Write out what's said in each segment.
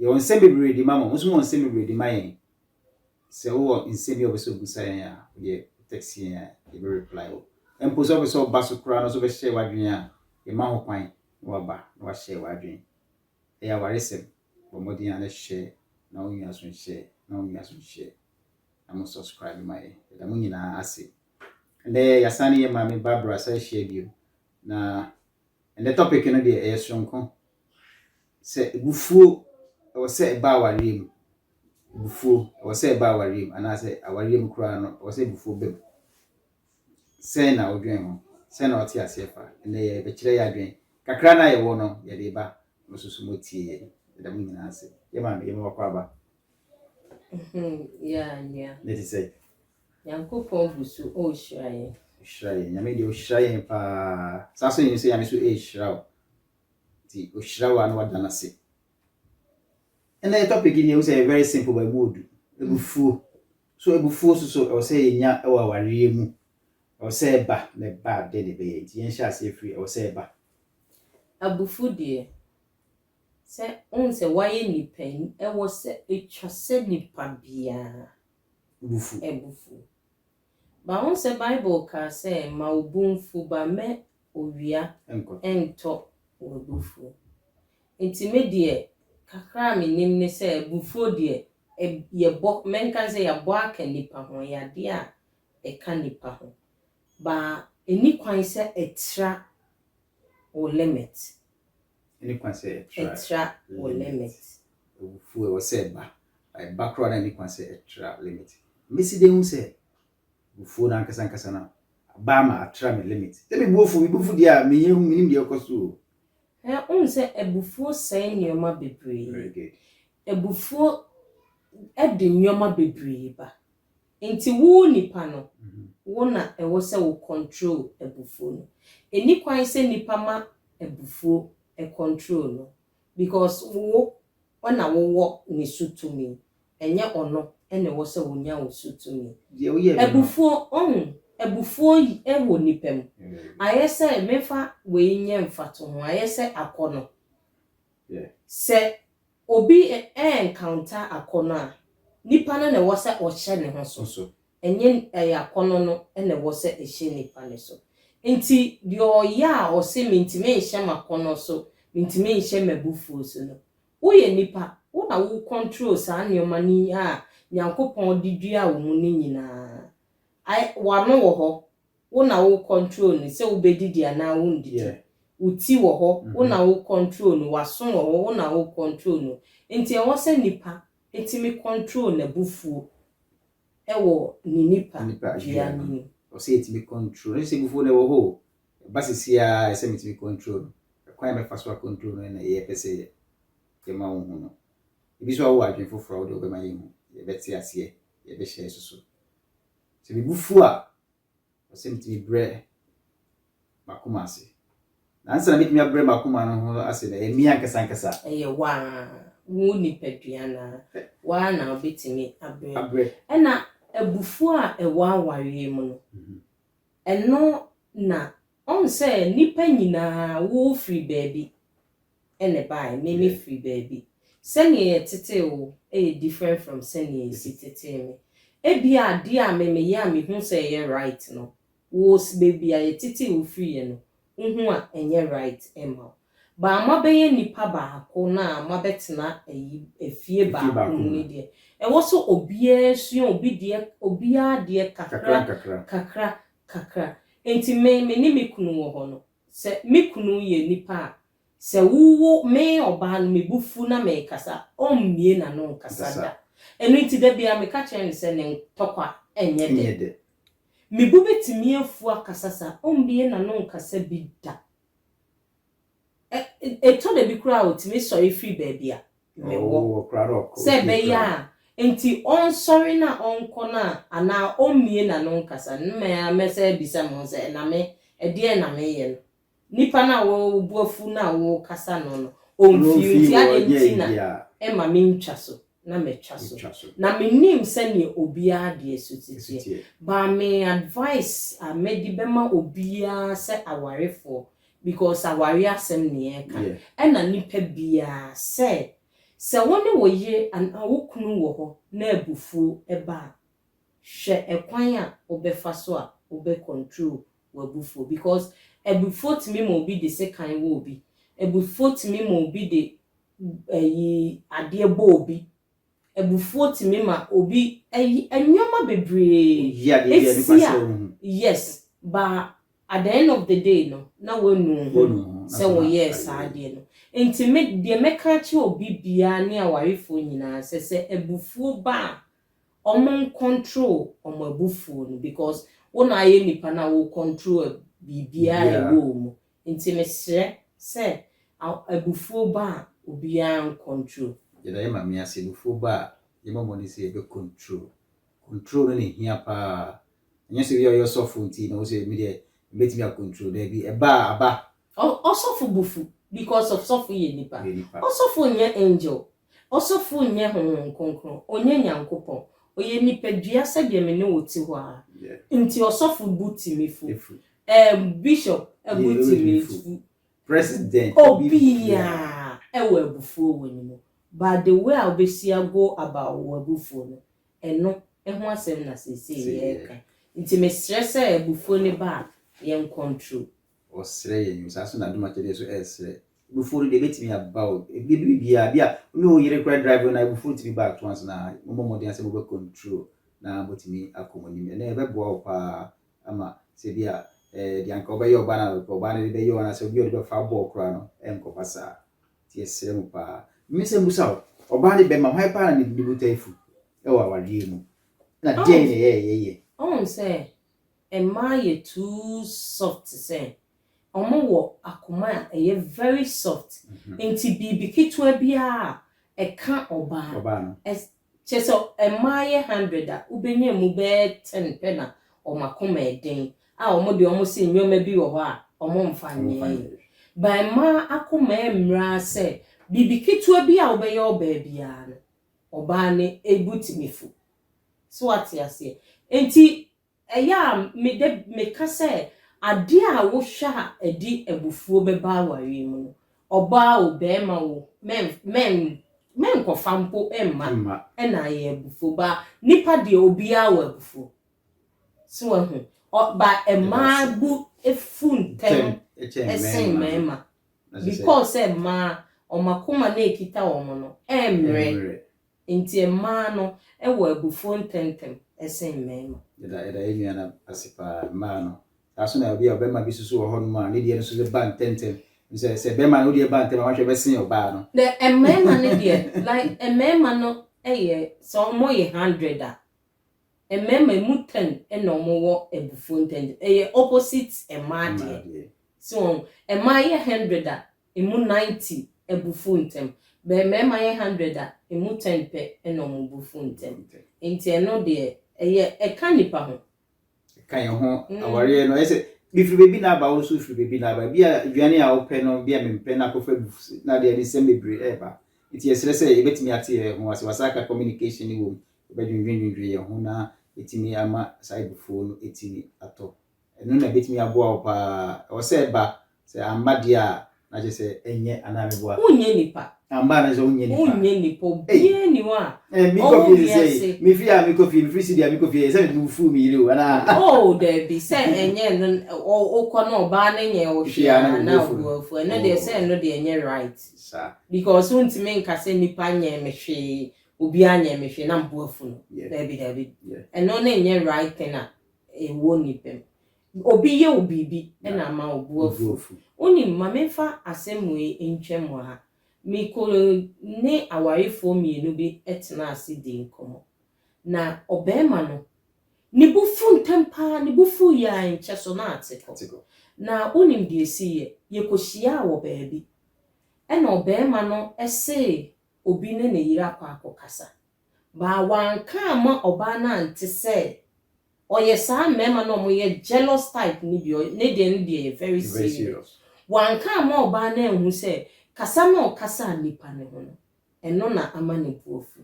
Yɛwɔ nsɛm bebree de ma mo, mo nso mowɔ nsɛm bebree de ma yɛn. Sɛ wowɔ nsɛm bi a wopɛ sɛ wobisa yɛn a, wodeɛ text yɛn a, yɛbɛ reply wo. Mpo sɛ wopɛ sɛ woba so koraa no nso bɛhyɛ w'adwene a, yɛma ho kwan na waba na wahyɛ w'adwene. Ɛyɛ awaresɛm, bɔ mmɔden a na hyɛ na wo nua so nhyɛ na wo nua so nhyɛ na mo subscribe ma yɛn. Yɛda mo nyinaa ase. Ɛnɛ yɛasan ne yɛ maame Barbara san hyia bio na Ɛnnɛ topic no deɛ ɛyɛ soronko. Sɛ abufuo ɛwɔ sɛ ɛba awareɛ mu, abufuo ɛwɔ sɛ ɛba awareɛ mu anaasɛ awareɛ mu koraa no ɛwɔ sɛ abufuo ba mu. Sɛn na wodwen ho? Sɛn na wote aseɛ fa? Ɛnnɛ yɛbɛkyerɛ yɛ adwen. Kakra no a yɛwɔ no yɛde ba na ɔsoso mu atie yɛn. Yɛda mo nyinaa ase. Yɛ maame, yɛma wakɔ aba. Ne te sɛ. Nyankopɔn gu so ɔrehyira yɛn. Ɔhyira yɛn. Nyame deɛ ɔhyira yɛn paa. Saa so yɛn sɛ Nyame so ɛrehyira wo. Nti ɔhyira wo a na wada no ase. Ɛnna yɛ topic deɛ wo sɛ very simple but ɛmu ɔdu. Abufuo. So abufuo so so ɛwɔ sɛ yɛnya ɛwɔ awareɛ mu. Ɛwɔ sɛ ɛba na ɛba a dɛn na ɛbɛyɛ. Nti yɛnhyɛ aseɛ firi ɛwɔ sɛ ɛba. Abufuo deɛ Sɛ wohu sɛ woayɛ nipa yi, ɛwɔ sɛ etwa sɛ nipa biara bo fuw. But wohu sɛ Bible kaa sɛ, Ma wo bo mfuw but mɛ owia ntɔ w'abufuw. Nti me deɛ kakra a menim ne sɛ abufuo deɛ yɛbɔ, mɛnka ne sɛ yɛabɔ aka nipa ho, ɛyɛ adeɛ a ɛka nipa ho. But ɛni kwan sɛ ɛtra wo limit. Ɛni kwan sɛ ɛtra. Ɛtra wo limit. Awufoɔ ɛwɔ sɛ ɛba. Ɛba koraa na ɛni kwan sɛ ɛtra limit. Mesi dɛn hu sɛ awufoɔ no ankasa ankasa no aba ama atra me limit? Sɛ me bo afu, me bo afu deɛ a, menyɛ hu, menim deɛ ɛrekɔ so o. Ɛ, wohu sɛ abufuo sɛe nneɛma bebree. Very good. Abufuo de nneɛma bebree ba. Nti wo nipa no wo na ɛwɔ sɛ wo control abufuo no. Ɛnni kwan sɛ nipa ma abufuo control no because wo na wo wɔ ne so tumi ɛnyɛ ɔno na ɛwɔ sɛ ɔnya wo so tumi. Deɛ woyɛ me no. Abufuo ɔhu abufuo wɔ nipa mu ayɛ sɛ memfa wei nyɛ mfatoho ayɛ sɛ akɔnɔ. Sɛ Obi reencounter akɔnnɔ a, nipa no na ɛwɔ sɛ ɔhyɛ ne ho so, ɛnyɛ ɛyɛ akɔnnɔ no na ɛwɔ sɛ ɛhyɛ nipa no so. Enti deɛ ɔyɛ a ɔse mentumi nhyɛ m'akɔnnɔ so, mentumi nhyɛ m'abufuo so no, woyɛ nipa, wo na wo control saa nneɛma no a Nyankopɔn de duaa wo mu no nyinaa. W'ano wɔ hɔ. Wo na wo control no sɛ wobɛdidi anaa wondidi. Wo ti wɔ hɔ, wo na wo control no, w'aso wɔ hɔ, wo na wo control no. Nti ɛwɔ sɛ nipa tumi control n'abufuo wɔ ne nipa dua no mu. Ɛwɔ sɛ yɛtumi control no. Ɛnhyɛ sɛ abufuo no ɛwɔ hɔ o, ɛba sesiaa ɛsɛ sɛ metumi control no. Ɛkwan a mɛfa so a control no na yɛpɛ sɛ yɛma wo hu no. Ebi nso a wowɔ adwene foforɔ a wode wobɛma yɛhu, yɛbɛte aseɛ, yɛbɛhyɛ so so. Sɛ mebufuo a. Ɔsɛ metumi brɛ m'akoma ase. Na ansa na metumi abrɛ m'akoma no ho ase na ɛyɛ me ankasa ankasa. Ɛyɛ wo a, wo nipadua no a, wo ara na wobɛtumi abrɛ. Abrɛ. Ɛna abufuo a ɛwɔ awareɛ mu no, mhm. ɛno na ɔn sɛ nnipa nyinaa wofiri baabi. na ɛbaeɛ me me firi baabi sɛdeɛ yɛ tetee wo yɛ different from sɛdeɛ yɛ si tetee me ebia adeɛ a me me yɛ a me hu sɛ ɛyɛ right no wo baabi a yɛ tetee wo firi yɛ no wo hu a ɛnyɛ right ɛma wo but mo abɛyɛ nnipa baako na mo abɛtena ayi afie baako mu no deɛ ɛwɔ sɛ obiara sua obi deɛ obiara deɛ kakra kakra kakra nti me me ne me kunu wɔ hɔ no Sɛ me kunu yɛ nipa a, sɛ wo wo me ɔbaa no me bo fu na mekasa a, ɔmmue n'ano nkasa da. Ɛno nti da biara meka kyerɛ no sɛ ne ntɔkwa nyɛ dɛ. Me bo bɛtumi afu akasa saa, ɔmmue n'ano nkasa bi da. Ɛ, ɛtɔ da bi koraa a, ɔtumi sɔre firi baabi a ne wɔ sɛ ɛbɛyɛ a enti ɔnsɔre na ɔnkɔ no a anaa ɔmmue n'ano nkasa no, me ara mɛsan abisa me ho sɛ, na me, ɛdeɛn na mereyɛ no? Nipa no a wo bo afu no a worekasa no no, ɔmfii hɔ nti adɛn nti na ɛmma mentwa so na matwa so? Na mennim sɛdeɛ obiara deɛ so teteɛ, but me advice a mɛdi bɛma obiara sɛ awarefoɔ Because aware asɛm ne yɛreka. Ɛna nipa biaa sɛ, sɛ wo ne wo yere anaa wo kunu wɔ hɔ na abufuo ba a, hwɛ ɛkwan a wobɛfa so a wobɛ control w'abufuo. Because abufuo tumi ma obi de sekan wɔ obi. Abufuo tumi ma obi de ayi adeɛ bɔ obi. Abufuo tumi ma obi ayi nnoɔma bebree. Oyi adeɛ bi a ɛde kɔ asɛe wo ho. Yes, ba At the end of the day no, na woanu wo ho sɛ woyɛɛ saa adeɛ no. Enti me, deɛ mɛka akyerɛ obi biara ne awarefoɔ nyinaa sɛ, sɛ abufuo ba a, wɔncontrol wɔn abufuo no because wo na ayɛ nipa no a wocontrol biribiara a ɛwɔ wo mu. Enti mesrɛ sɛ abufuo ba a, obiara ncontrol. Yɛda yɛn Maame ase, abufuo ba a, yɛn mmɔmmɔdie sɛ yɛbɛcontrol Control no na ehia paa. Ɛnyɛ sɛ obi a ɔyɛ ɔsɔfo nti na ɔwɔ sɛ me deɛ mebɛtumi a control. Daabi, ɛba a aba. Ɔsɔfo bo fu because of sɔfo yɛ nipa. Ɔsɔfo nyɛ angel. Ɔsɔfo nyɛ Honhom Kronkron. Ɔnyɛ Nyankopɔn. Ɔyɛ nipadua sɛdeɛ me ne wo te hɔ ara. Nti ɔsɔfo bo tumi fu. Ɛɛm, bishop bo tumi fu. President, obiara wɔ abufuo wɔ ne mu. But the way a wobɛsi a go about wo abufuo no, Ɛno ho asɛm na seesei yɛreka. Nti mesrɛ sɛ abufuo no ba a, yɛnkɔntro. Ɔsrɛ yɛn o, saa nso na adom akyɛdeɛ nso ɛresrɛ. Abufuo no deɛ ɛbɛtumi aba o, ɛbɛdu biribiara, ebi a wo ne wo yere koraa drive no na abufuo tumi ba to ansa na mommɔ mmɔden sɛ mobɛkɔntro na moatumi akɔ mo anim. Ɛnɛ ɛbɛboa wo paa ama sɛ bi a deɛ anka wobɛyɛ ɔbaa no a ɔbaa no de bɛyɛ wo anaasɛ obi a ɔde bɛfa abɔ wo koraa no ɛrenkɔba saa. Yɛsrɛ wo paa. Me nsɛm busa wo, ɔbaa ne bɛma hwan paa na ne ne botae fu wɔ awareɛ mu? Na deɛn na ɛyɛ a yɛyɛ? Wohu sɛ mmaa yɛ too soft te sɛ, ɔmo wɔ akoma a ɛyɛ very soft nti biribi ketewa biara a ɛka ɔbaa no, Kyerɛ sɛ mmaayɛ hundred a wobɛnya mu bɛyɛ ten pɛ na wɔn akoma yɛ den a wɔn deɛ wɔn se nnoɔma bi wɔ hɔ a wɔn mfa nyɛ yɛ. But mmaa akoma yɛ mmeraa sɛ biribi ketewa bi a wobɛyɛ ɔbaa biara no ɔbaa no bo tumi fu. So wate aseɛ? Nti Ɛyɛ a meda bi meka sɛ, Adeɛ a wohwɛ a ɛde abufuo bɛba awareɛ mu no, ɔbaa o, barima o, mɛnkɔfa mpo mma na ayɛ abufuo. But nnipa deɛ, obiara wɔ abufuo. So wahu? But mmaa bo fu ntɛm sen mmarima because sɛ mmaa, wɔn akoma no a ɛkita wɔn no, ɛmmrɛ. Enti mmaa no wɔ abufuo ntɛmntɛm sen mmarima. Yɛda yɛn nua no ase paa. Mmaa no, saa nso na ebi a ɔbarima bi nso so wɔ hɔnom a ne deɛ no nso so ba ntɛmntɛm. Ɛfiri sɛ, sɛ barima no deɛ ba ntɛm a, wahwɛ ɛbɛsen ɔbaa no. The mmarima no deɛ like mmarima no yɛ sɛ wɔyɛ hundred a, mmarima emu ten na wɔwɔ abufuo ntɛmntɛm. Ɛyɛ opposite mmaa deɛ. Mmaa deɛ. So wɔn, mmaa yɛ hundred a, emu ninety bu fuw ntɛm. Bɛ mmarima yɛ hundred a, emu ten pɛ na wɔbu fuw ntɛm. Enti ɛno deɛ, ɛyɛ, ɛka nnipa ho. Ɛka yɛn ho. Awareɛ no, ɛyɛ sɛ, mefiri baabi na aba, wo nso wofiri baabi na aba. Ebi a, aduane a wopɛ no, ebi a mempɛ, na akɔfa agu so, na adeɛ, ɛde nsɛm bebree reba. Enti yɛsrɛ sɛ yɛbɛtumi ate yɛn ho a, sɛ wɔasan aka communication no wom, yɛbɛdwendwendwendwen yɛn ho na yɛatumi ama saa abufuo no atumi atɔ. Ɛno na ɛbɛtumi aboa wo pa ara. Ɛwɔ sɛ ɛba. Sɛ amma deɛ a, na kyerɛ sɛ ɛnyɛ anaa meboa. Wonyɛ nipa. Amma a na kyerɛ sɛ wonyɛ nipa. Wonyɛ nipa. Obiara nni hɔ a ɔwɔ wiase. Me fie a mekɔ fie, mefiri studio a mekɔ fie, ɛyɛ sɛ mebufuw me yere o, anaa? Oh, daabi. Sɛ ɛnyɛ ɛno, wokɔ na ɔbaa no nyɛɛ wo hwee a, na wobu wo afu. Ɛno deɛ, sɛ ɛno deɛ ɛnyɛ right. Because wontumi nka sɛ nipa nyɛɛ me hwee, obiara nyɛɛ me hwee, na mebu afu no. Daabi, daabi. Ɛno no nyɛ right thing a ɛwɔ nnipa mu. Obi yɛ wo biribi na ama wo bo afu. Wonim, ma memfa asɛm wei ntwam wɔ ha. Mekɔ ne awarefoɔ mmienu bi tenaa ase dii nkɔmmɔ. Na ɔbarima no, ne bo fu ntɛm pa ara, ne bo fu yɛ a nkyɛ so na ate kɔ. Na wonim deɛ ɛsiiɛ? Yɛkɔhyiaa wɔ baabi, ɛnna ɔbarima no see obi ne ne yere akɔ akɔkasa. Baa wanka amma ɔbaa no ante sɛ ɔyɛ saa mmarima no a wɔyɛ jealous type no bi ne deɛ no deɛ yɛ very serious wanka amma ɔbaa no anhu sɛ kasa no a ɔkasaa nipa no ho no ɛno na ama ne bo afu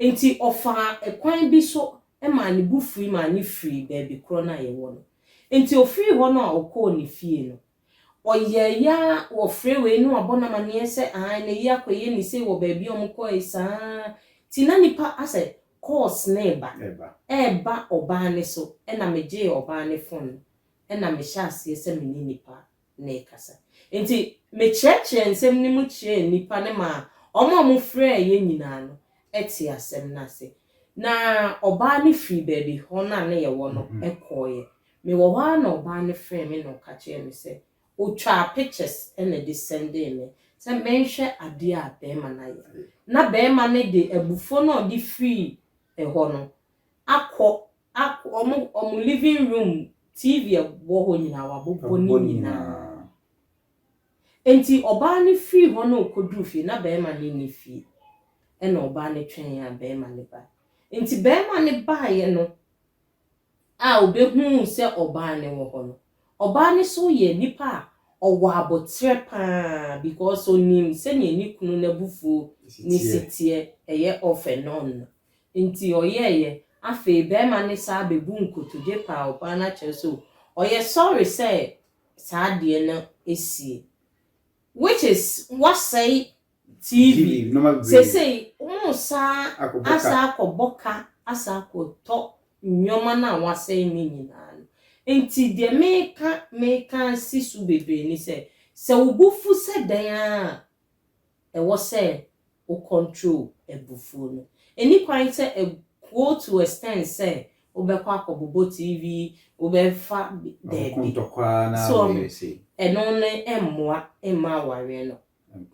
nti ɔfaa ɛkwan bi so maa ne bo fui maa ne firii baabi korɔ no a yɛwɔ no nti ofirii hɔ no a ɔkɔɔ ne fie no Ɔyɛeɛ ara wɔ freeway na wabɔ no amaneɛ sɛ aane na yi akɔyɛ ne sei wɔ baabi a wɔkɔɔe saa ara nti na nnipa asɛ calls no reba reba ɔbaa no so na megyee ɔbaa no phone no na mehyɛ aseɛ sɛ me ne nnipa no rekasa nti mekyerɛkyerɛɛ nsɛm no mu kyerɛɛ nnipa no maa wɔn a wɔfrɛɛeɛ nyinaa no tee asɛm no ase na ɔbaa no firii baabi hɔ no a na yɛwɔ no kɔeɛ Mewɔ hɔ ara na ɔbaa no frɛɛ me na ɔka kyerɛɛ me sɛ ɔtwaa pictures na de sɛndee me sɛ menhwɛ adeɛ a barima no ayɛ. Na barima no de abufuo no a ɔde firii hɔ no akɔ akɔ wɔn wɔn living room TV a ɛwɔ hɔ nyinaa wabobɔ ne nyinaa. Enti ɔbaa no firii hɔ na ɔkɔduruu fie na barima no nni fie ɛna ɔbaa no twɛn a barima no baeɛ. Enti barima no baeɛ no a obehuu sɛ ɔbaa no wɔ hɔ no, ɔbaa no so yɛ nipa a ɔwɔ aboterɛ paa because onim sɛdeɛ ne kunu no abufuo ne si teɛ, ɛyɛ off and on no nti ɔyɛɛyɛ, afei barima no saa bɛbu nkotodwe paa ɔbaa no akyerɛ sɛ ɔyɛ sorry sɛ saa adeɛ no asie which is wasɛe TV, seesei wɔresan asan akɔbɔ ka asan akɔtɔ nneɛma no a wɔasɛe no nyinaa no. Enti deɛ mereka mereka asi so bebree ne sɛ, sɛ wo bo fu sɛ dɛn ara a, ɛwɔ sɛ wo control abufuo no. Ɛnni kwan sɛ go to extent sɛ wobɛkɔ akɔbobɔ TV, wobɛfa daabi. So ɛno no mmoa mma awareɛ no.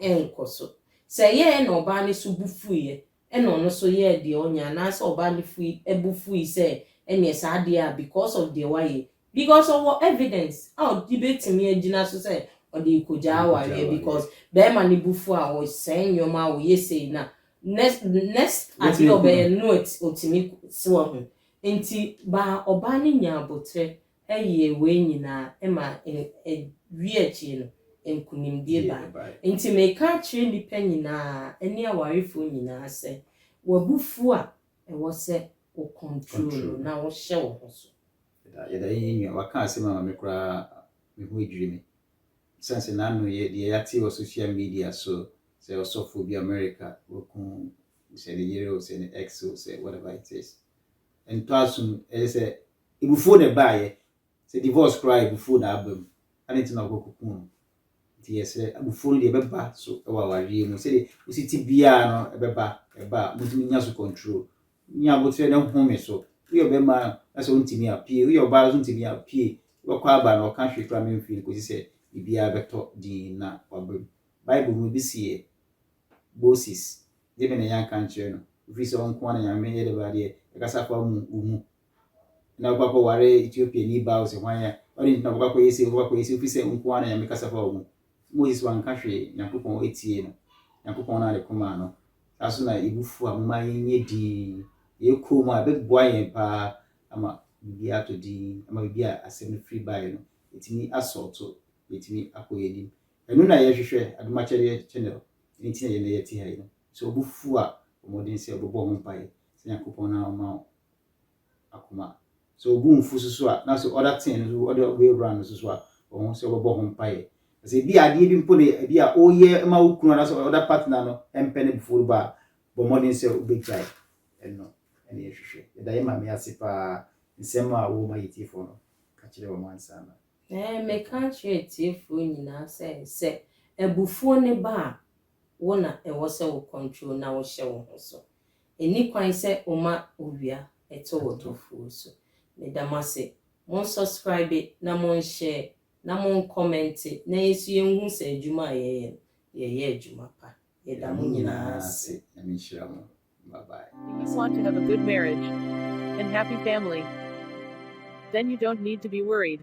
nkɔ so. Sɛ ɛyɛeɛ na ɔbaa no so bo fuiɛ, ɛna ɔno nso yɛɛ deɛ ɔnyɛ, anaasɛ ɔbaa no fui, bo fui sɛ ɛneɛ saa adeɛ a because of deɛ wayɛ, because ɔwɔ evidence a ɔde bɛtumi agyina so sɛ ɔde rekɔgyaa awareɛ because barima no bo fu a ɔsɛe nneɛma a ɔyɛ sei na next next adeɛ a ɔbɛyɛ no ɔtumi, so wahu. Nti baa ɔbaa no nyaa aboterɛ yɛɛ wei nyinaa ɛma ɛwie akyire no nkunimdie bae. Enti meka akyerɛ nnipa nyinaa ɛne awarefoɔ nyinaa sɛ w'abufuo a ɛwɔ sɛ wo control no na wo hyɛ wo ho so. Yɛda yɛn nua waka asɛm ama me koraa me ho adwiri me ɛsiane sɛ n'ano yɛ deɛ yɛate wɔ social media so sɛ ɔsɔfoɔ bi America waku sɛ ne yere o sɛ ne ex o sɛ whatever it is ɛntɔ asom ɛyɛ sɛ Ebufuo na ɛbaeɛ. Sɛ divorce koraa a ebufuo na aba mu. Adɛn nti na wokɔkɔku no? Nti yɛsrɛ, abufuo no deɛ ɛbɛba so wɔ awareɛ mu. Sɛdeɛ wosi te biara no ɛbɛba, ɛba a montumi nnya so control. Nya aboterɛ na home so. Woyɛ ɔbarima a na sɛ wontumi a, pue. Woyɛ ɔbaa nso ntumi a, pue. Wobɛkɔ aba na ɔka hwee koraa memfiri no kɔsi sɛ biribiara bɛtɔ din na waba mu. Bible mu ebi seɛ, Moses, deɛ me na yɛanka ankyerɛ no, ɛfiri sɛ ɔnko ara na Nyame yɛ dɛ bɛn adeɛ, ɛkasa fa mu wo mu. na ɔbɛkɔ akɔware Etiopiani baa ɔsɛ hwan a ɔde nti na ɔbɛkɔ akɔyɛ sei ɔbɛkɔ akɔyɛ sei ofisɛ nko ara na nyame kasa fa ɔmu Moses wanka hwee nyankopɔn etie no nyankopɔn na ade koma no saa so na ebufu a moma yɛnyɛ din yɛkɔ mu a ɛbɛboa yɛn paa ama biribi ato din ama biribi a asɛm no firi baeɛ no ɛtumi asɔɔto yɛtumi akɔ yɛn anim ɛno na yɛhwehwɛ adomakyɛdeɛ channel ɛno nti na yɛn na yɛte ha yi no sɛ ɔbufu a ɔmɔden sɛ ɔbɛbɔ ho mpaeɛ sɛ nyankopɔn na ɔma akoma. Sɛ obu mfu so so a, na sɛ ɔda tee no so, ɔde ɔbɛyɛ wura no so so a, ɔho sɛ ɔbɛbɔ ho mpaeɛ. Na sɛ ebi a adeɛ bi mpo na ebi a ɔreyɛ ma wo kunu anaasɛ ɔda partner no mpɛ no before ba a, bɔ mmɔden sɛ wobɛgyae ɛno na yɛhwehwɛ. Yɛda yɛn maame ase paa nsɛm a wɔma yɛn tiefoɔ no ka kyerɛ wɔn ansa na. Ɛɛ meka akyerɛ atiefoɔ nyinaa sɛ, sɛ abufuo no ba a, wo na ɛwɔ sɛ wo control na wohyɛ wo ho so. Ɛnni kwan sɛ woma owia tɔ wɔ tofuo so. Meda mo ase. Mon subscribe na mon share na mon comment na yɛn nso yɛnhu sɛ adwuma a yɛyɛ no, yɛyɛ adwuma pa. Yɛda mo nyinaa ase. Nyame nhyira mo. Bye bye. If you want to have a good marriage and happy family then you don't need to be worried